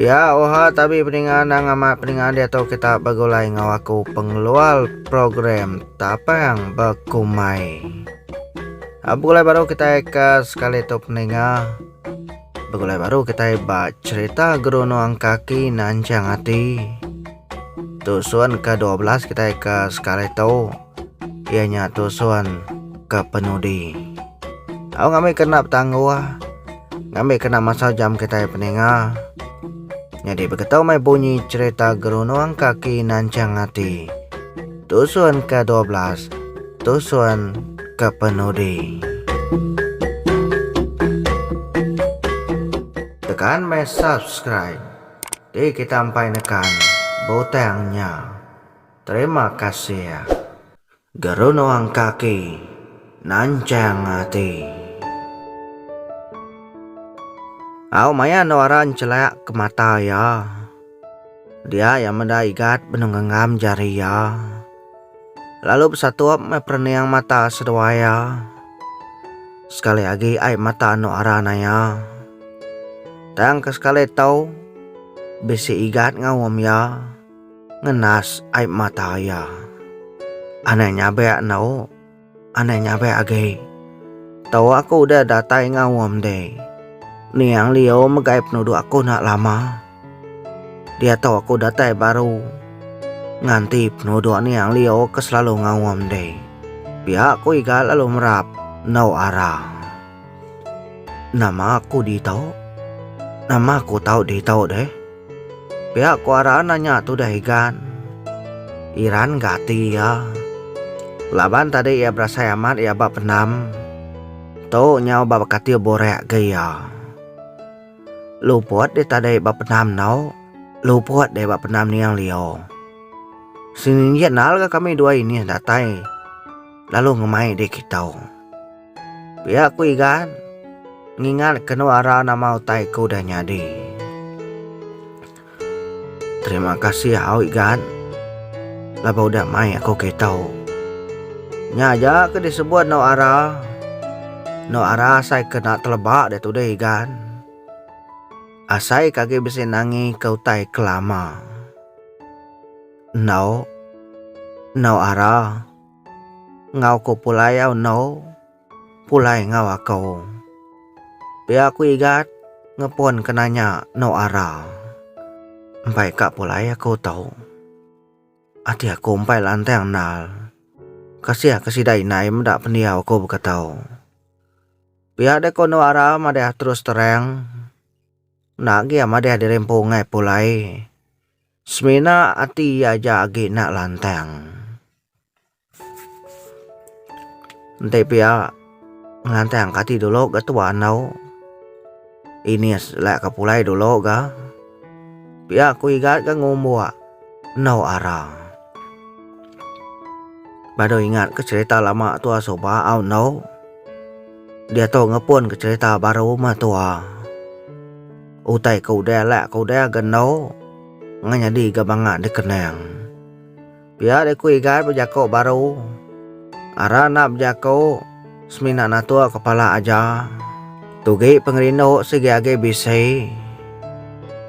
Ya oha tabi peninga nang amat peninga dia tu kita begulai ngau aku pengeluar program tapang bekumai. Ah, begulai baru kita ke sekali tu peninga. Begulai baru kita ba cerita guru nuang kaki nanjang hati. Tu suan ke-12 kita ke sekali tu. Iya nya tusun ka penudi. Tau ngambi kena betangguh, ngambi kena masau jam kitai peninga. Nyadi begetu meh bunyi cerita gerunung kaki nanchang ati. Tusun ka dua belas, tusun ka penudi. Tekan meh subscribe. Ti kita empai nekan butang nya. Terima kasih gerunung kaki nanchang ati. Au maya enda wara nchelak ke mata iya. Dia iya meda igat benung genggam jari iya. Lalu besatup meh perening mata seduai iya. Sekali agi ai mata enda wara naya. Tang ke sekali tu bisi igat enggau um iya. Ngenas ai mata iya. Anai nyabek endo. Anai nyabek agi. Tau aku udah datai ngaum deh. Niang Lio megai penuduk aku nak lama. Dia tau aku datai baru. Nganti penuduk Niang Lio ke selalu ngaum deh. Pia aku iga lalu merap endo arang. Nama aku di tau? Nama aku tau di tau deh? Pia ku Aran anya tu deh Igan. Iran ga ati iya. Laban tadi iya berasai amat iya ba pendam. Tu nyau ba bekatiu burek ga iya. Luput deh tadi ba pendam tu. Luput deh ba pendam niang Lio. Seninjit endar ga kami dua inih datai lalu ngemai diri kitou. Pia ku Igan ngingat kenu ara nama utai ku dah nyadi. Terima kasih au Igan laban udah mai aku ke tau. Nya aja ke disebut eno ara. Eno ara asai ke enda teleba diatu deh Igan. Asai ke agi bisi nangi ke utai ke lama. Enau enau ara. Enggau ku pulai endu pulai enggau aku. Pia ku Igat ngepun ke nanya endu ara. Empai ka pulai aku tu. Ati aku empai lantang endal. Kasih ke sida indai meda pendiau aku baka tu. Pia deh ku endu ara madah terus terang. Enda agi iya madah dirimpu enggau pulai. Semina ati iya aja agi enda lantang. Enti pia ngelantang ka ati dulu ga tua enau. Ini selai ka pulai dulu ga. Pia ku igat ga ngumbuk enau ara. Baru ingat ke cerita lama tua suba au enau. Diatu ngepun ke cerita baru meh tua. Utai ke udah alak ke udah ga endu ngan nyadi ga banga dikenang. Pia deh ku Igan bejako baru. Aran enda bejako semina natuk kepala aja. Tugi pengerindu sigi agi bisi.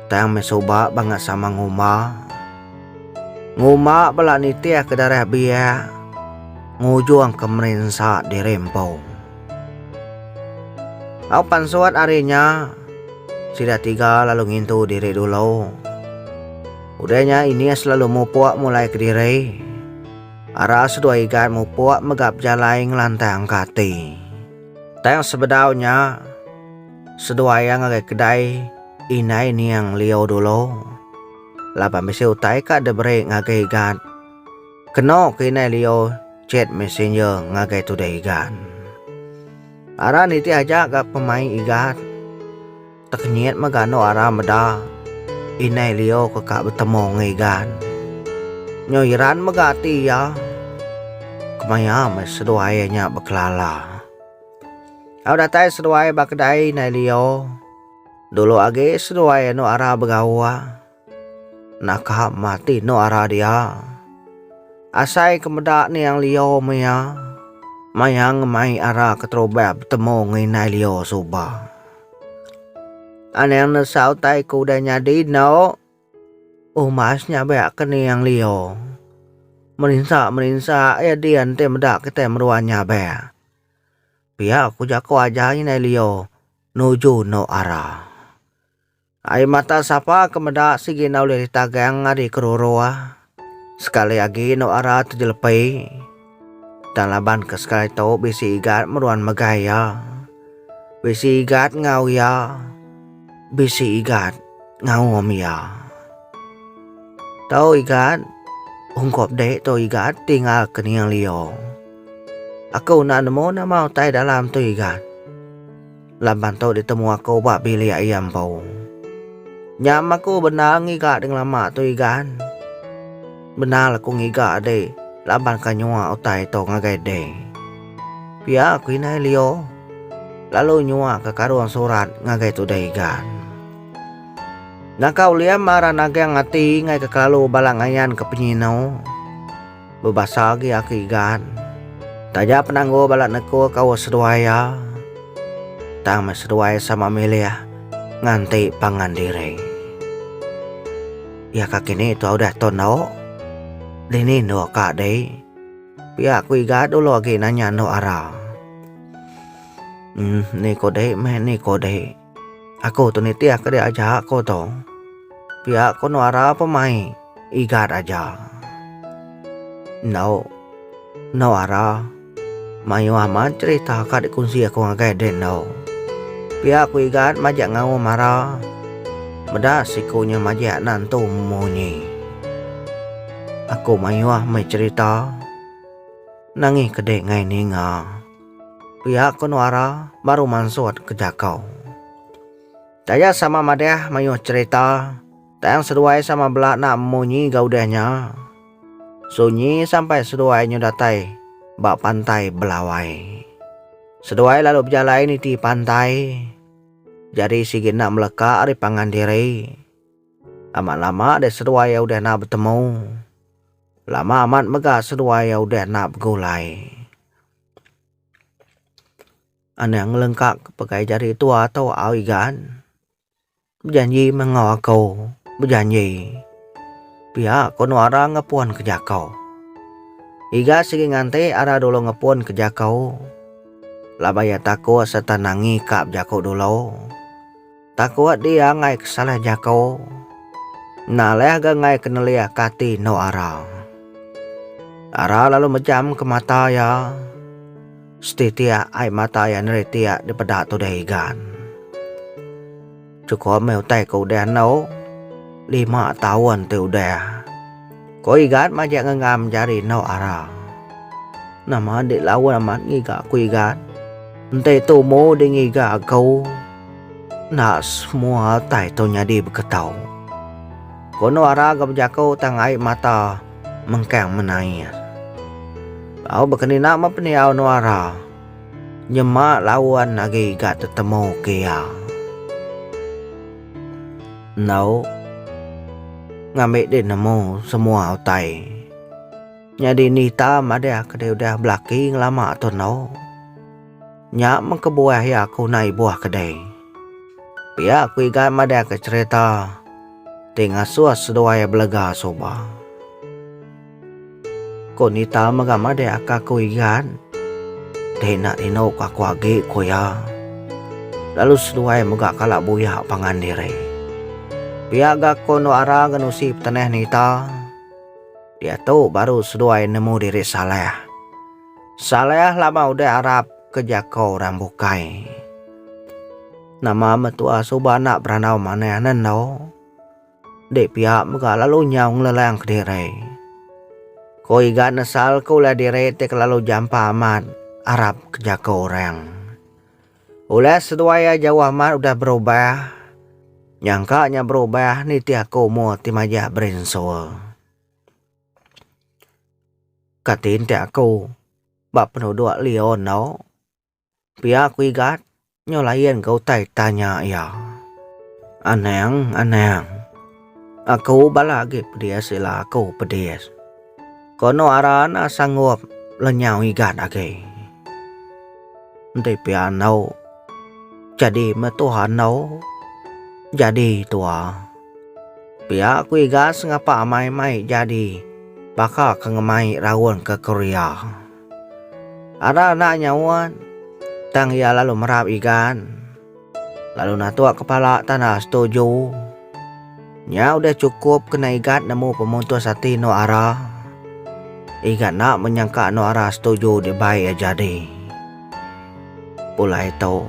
Tang meh suba banga sama ngumba. Ngumba bala nitih ke darah biak ngujung ke merinsa diri empu. Au pan suat ari nya, sida tiga lalu ngintu diri dulu. Udah nya Inias lalu mupuk mulai kediri. Ara seduai Igat mupuk mega bejalai ngelantang ke ati. Tang sebedau nya, seduai iya ngagai kedai indai niang Lio dulu, laban bisi utai ka diberi ngagai Igat. Keno ke inai Leo chat messenger ngagai tude Igan. Ara nitih aja ga pemaik Igan. Tekenyit mega anu ara meda inai Leo ke ka betemu ngai Igan. Nyo iran mega ati iya. Kemaya meh seduai iya nya bekelala. Au datai seduai ba kedai inai Leo. Dulu agi seduai anu ara begawa. Naka mati endo arah dia. Asai ke meda niang Lio maya mayang mai arah ke terubah betemu nginai Lio suba. Anang nesau tai ku udah nyadi endo. Umas nyabak ke niang Lio. Merinsa-merinsa ya dia enti meda kita meruan nyabak. Pia ku jaku aja nginai Lio nuju endo arah. Ai mata sapa ke meda sigi enda ulih ditagang ari keruru, sekali agi inu ara tu jelepi. Tang laban ke sekali tu bisi igat meruan mega iya. Bisi igat ngau iya, bisi igat ngaum iya. Tu igat ungkup dek tu igat tinggal ke nia lio. Aku enda nemu nama utai dalam tu igat. Laban tu ditemu aku ba bilik iya empu. Nyam aku bendar ngiga ding lama tu Igan. Bendar aku ngiga adi laban ka nyua utai tu ngagai ding. Pia aku inai Leo. Lalu nyua ka karung surat ngagai tudai Igan. Naka uliam ara nagang ati ngai ke kelalu bala ngayan ke penyinu. Bebasa agi aku Igan. Taja penanggul bala neku kaul seduai iya, tang meh seduai sama milih nganti pangan diri. Iya ka kini tuah udah tu endo, dini endo ka dih. Pia ku Igan dulu agi nanya endo ara. Em ni ko dih meh ni ko dih. Aku tu nitih ke dia aja aku tu. Pia ku Nuara pemai Igat aja. Endo. Nuara. Mayuh amat cerita ka dikunsi aku ngagai deh endo. Pia ku Igat majak ngau Mara. Meda siku nya majak anak entu munyi. Aku mayuh meh cerita. Nangih ke deh ngai ninga. Pia ko Nuara baru mansut ke jakau. Daya sama madah mayuh cherita tang seduai sama bela enda munyi ga udah nya. Sunyi sampai seduai nyu datai ba pantai Belawai. Seduai lalu bejalai niti pantai jadi sigi enda meleka ari pangan diri. Amat lama deh seduai iya udah enda betemu. Lama amat mega seduai iya udah enda begulai. Anang lengka ke pegai jari tua tu au igan. Bejanji meh enggau aku. Bejanji. Pia ko no ara ngepun ke jako. Iga sigi nganti ara dulu ngepun ke jako. Laban ia tako serta nangi ka jako dulu. Takut dia angai ke salah jako. Enda leh ga angai ke nelih ke ati endo ara. Ara lalu mejam ke mata iya. Setitik ai mata iya neri tiak di peda tudai igan. Chukup meh utai ke udah endo. Lima taun ti udah. Ko Igat majak ngenggam jari endauk ara. Nama enda laun amat ngiga ko Igat. Enti tumu di ngiga ko. Enda semua altai tu nyadi beketau. Ko endauk ara ga bejako tang ai mata mengkang menair. Bau bekenina meh pendiau endauk ara. Nyema laun agi Igat tetemu ke iya. Enggau ngambi di nemu semua utai. Nyadi ni ita madah ke dia udah belaki ngelama tu endo. Nya meh kebuah iya ke unai ibuh ke dei. Pia ku Igan madahka cherita ti ngasuh seduai belega suba. Ko Nita mega madai aka ko Igan. Dei enda rino ko aku agi ko iya. Lalu seduai mega kala buyak pangan diri. Pia ga ko endo ara ngan usi petenah Nita. Diatu baru seduai nemu diri Saleh. Saleh lama udah arap ke jako orang bukai. Nama mentua suba enda berandau manah nen endo. Dek pia mega lalu nyau ngelelang kediri. Ko iga nesal ke ulah diri ti kelalu jampa amat arap ke jako orang. Ulah seduai iya jauh amat udah berubah. Nyangka nya berubah nitih aku umur ti majak berinsul. Kati enti aku ba penuduk Leo eno. Pia ku Igat nyau layan ga utai tanya iya. Anang, Anang. Aku bala agi pedis ila aku pedis. Kono aran a sanggup lenyau Igat agi. Enti pia endo jadi meh tuha endo jadi tuha. Pia ku Igat sengapa amai mai jadi baka ke ngemai raun ke Korea. Ada anak nyaut, tang iya lalu merap igan, lalu natuk kepala tanda setuju. Nya udah chukup kena Igat nemu pemutus ati endur Ara. Igat enda menyangka endur Ara setuju dibai iya jadi. Pulai tu,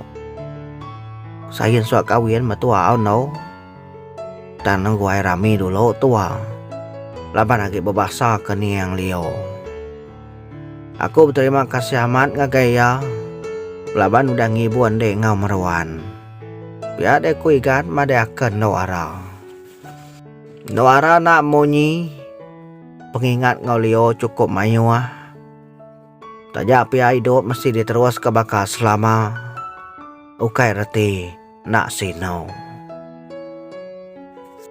Sain suah kawin metua au endur, tang nengguai rami dulu tua laban agi bebasa ke niang liur. Aku beterima kasih amat ngagai iya laban udah ngibur ende enggau meruan. Pia deh ku Igat madeh aka endu ara. Endu ara enda munyi, pengingat enggau Leo chukup mayuh. Taja pia idup mesti diteruska baka selama ukai reti. Enda Sinau.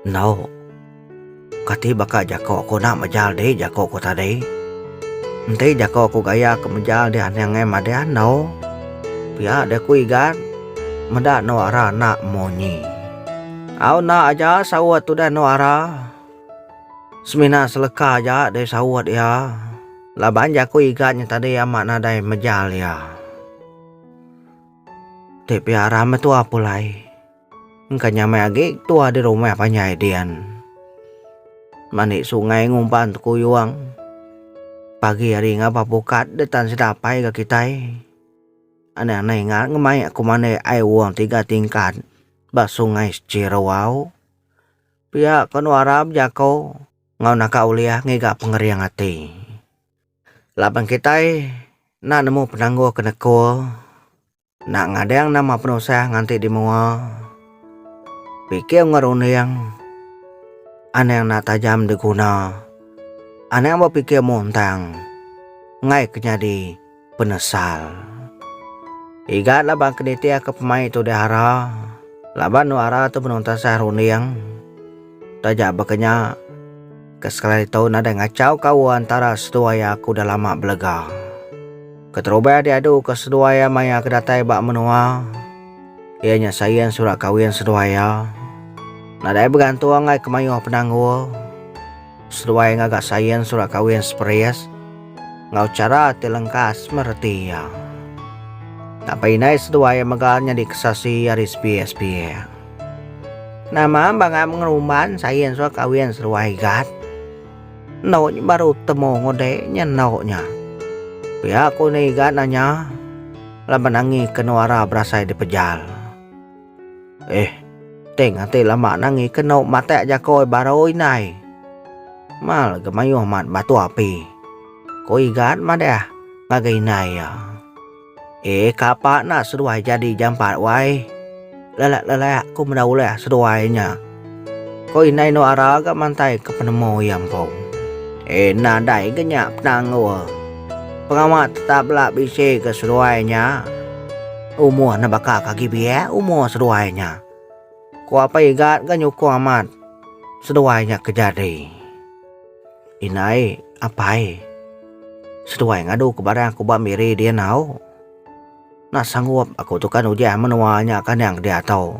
Enggau. Kati baka jako aku enda mejal dih jako aku tadi. Enti jako aku gaya ke mejal dih anang ngai madah enggau. Pia deh aku Igan. Meda enggau Ara enda munyi. Au enda aja saut udah enggau Ara. Semina seleka aja deh saut iya. Laban jako Igan nya tadi amat nadai mejal iya. Ti piara metua pulai. Engka nyamai agi tua di rumah panjai dian. Mani sungai ngumpan tekuyung. Pagi hari ngapa pukat de tan sedapai ga kitai. Anai-anai ingat ngemai aku mani ai wong tiga tingkat ba sungai Sechirau au. Pia ke nuara bejako enggau naka ulih ngiga pengering ati. Laban kitai enda nemu penanggul ke nekul, enda ngadang nama penusah nganti di menua, pikir enggau runding, anang enda tajam diguna, anang bepikir muntang enggai ke nyadi penesal. Iga laban ke nitihka pemai tu dihara, laban dua hara tu benung tasah runding taja baka nya. Ke sekala ditu nadai ngachau ke awa entara seduai iya aku dah lama belega. Keterubah iya diadu ke seduai iya maya aku datai ba menua, iya nya Sain surat kawin seduai iya. Nadai begantung ai ke mayuh penanggul, seduai ngaga Sain surat kawin seperis enggau chara ti lengkas meh reti iya. Tang peinai seduai iya mega nyadi kesasi ari sebiak-sebiak. Nama bangai mengeruman saya ensor kawin seruai gat. Endo nya baru temu ngude nya endo nya. Pia ku ni gat nanya laban angi ke nuara berasai dipejal. Eh teng ati lama nangi ke endo matak jakoi baru indai. Mal ke mayuh mat batu api. Ku igat madah ngagai indai iya. Eh kapa enda seduai jadi jampat wai. Lelak-lelak ku meda ulih seduai nya. Ko indai endo ara ga mantai ke penemu iya empu. Eh nadai ga nya penanggul. Pengawa tetap bela bisi ga seduai nya. Umur ne baka ka agi biak umur seduai nya. Ko Apai Igat ga nyukung amat seduai nya ke jadi. Indai, apai. Seduai ngadu ke barang aku ba Miri dia enggau. Enda sanggup aku tu kan ujan menua nya ke anang ke diatu.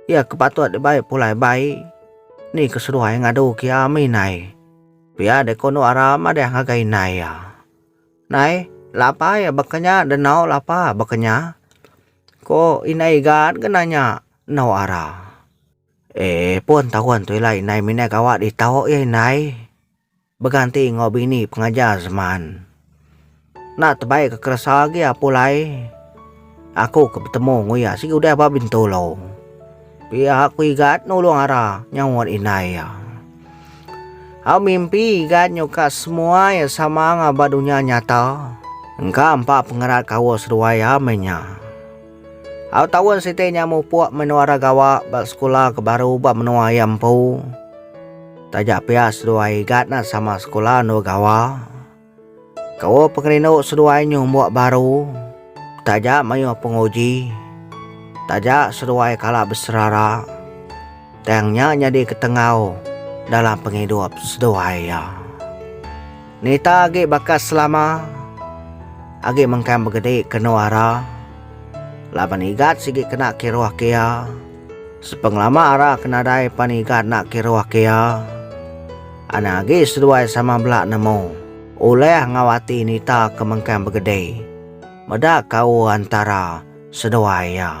Iya ke patut dibai pulai bai. Ni ke seduai ngadu ke iya mih indai. Pia deh kondo Ara madah ngagai indai iya. Indai, la apai baka nya deh enggau la apa baka nya. Ko indai Igan ke nanya enggau Ara. Eh pun taun tu ila indai minai gawa ditau iya indai beganti enggau bini pengajar seman. Enda tebai ke keresa agi iya pulai aku ke betemu enggau iya sigi udah ba Bintulu. Pia ku Igat nulung Ara nyaut indai iya. Au mimpi Igat nyuka semua iya sama enggau ba dunya nyata. Engka empa pengerat kaul seduai iya meh nya. Au taun siti nya mupuk menua ra gawa ba sekula ke baru ba menua iya empu. Taja pia seduai Igat nya sama sekula endur gawa. Kebuah pengerindu seduai nyumbuk baru taja mayuh penguji. Taja seduai kala beserara. Tang nya nyadi ketengau dalam pengidup seduai iya. Nita agi baka Selama agi mengkang begedi kenu ara laban Igat sigi kena kiruh ke iya. Sepengelama ara ke nadai pan Igat enda kiruh ke iya, anang agi seduai sama bela nemu ulih enggau ati Nita ke mengkang begedi meda kaul antara seduai iya.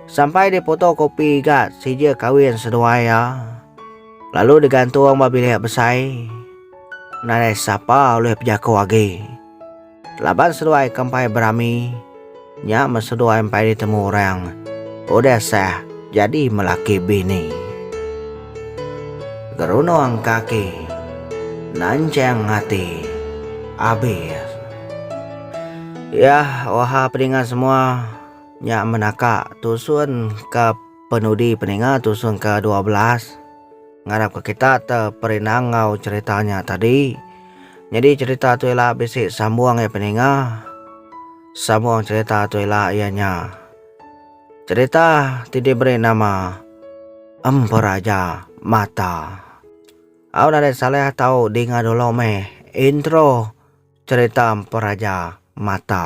Sampai di putu kopi ga sija kawin seduai iya lalu digantung ba bilik besai nadai sapa ulih bejaku agi. Laban seduai ke empai berami nya men seduai empai ditemu orang udah sah jadi melaki bini. Gerunung kaki nanchang ati abis. Yah oha pedinga semua. Nya menaka tusun ke penudi peninga tusun ke dua belas ngarap ke kita te perinang enggau cerita nya tadi. Nyadi cerita tu ila bisi sambung ya peninga. Sambung cerita tu ila iya nya cerita ti diberi nama Emperaja Mata. Au nadai salah tau dinga dulu meh intro cerita Emperaja Mata.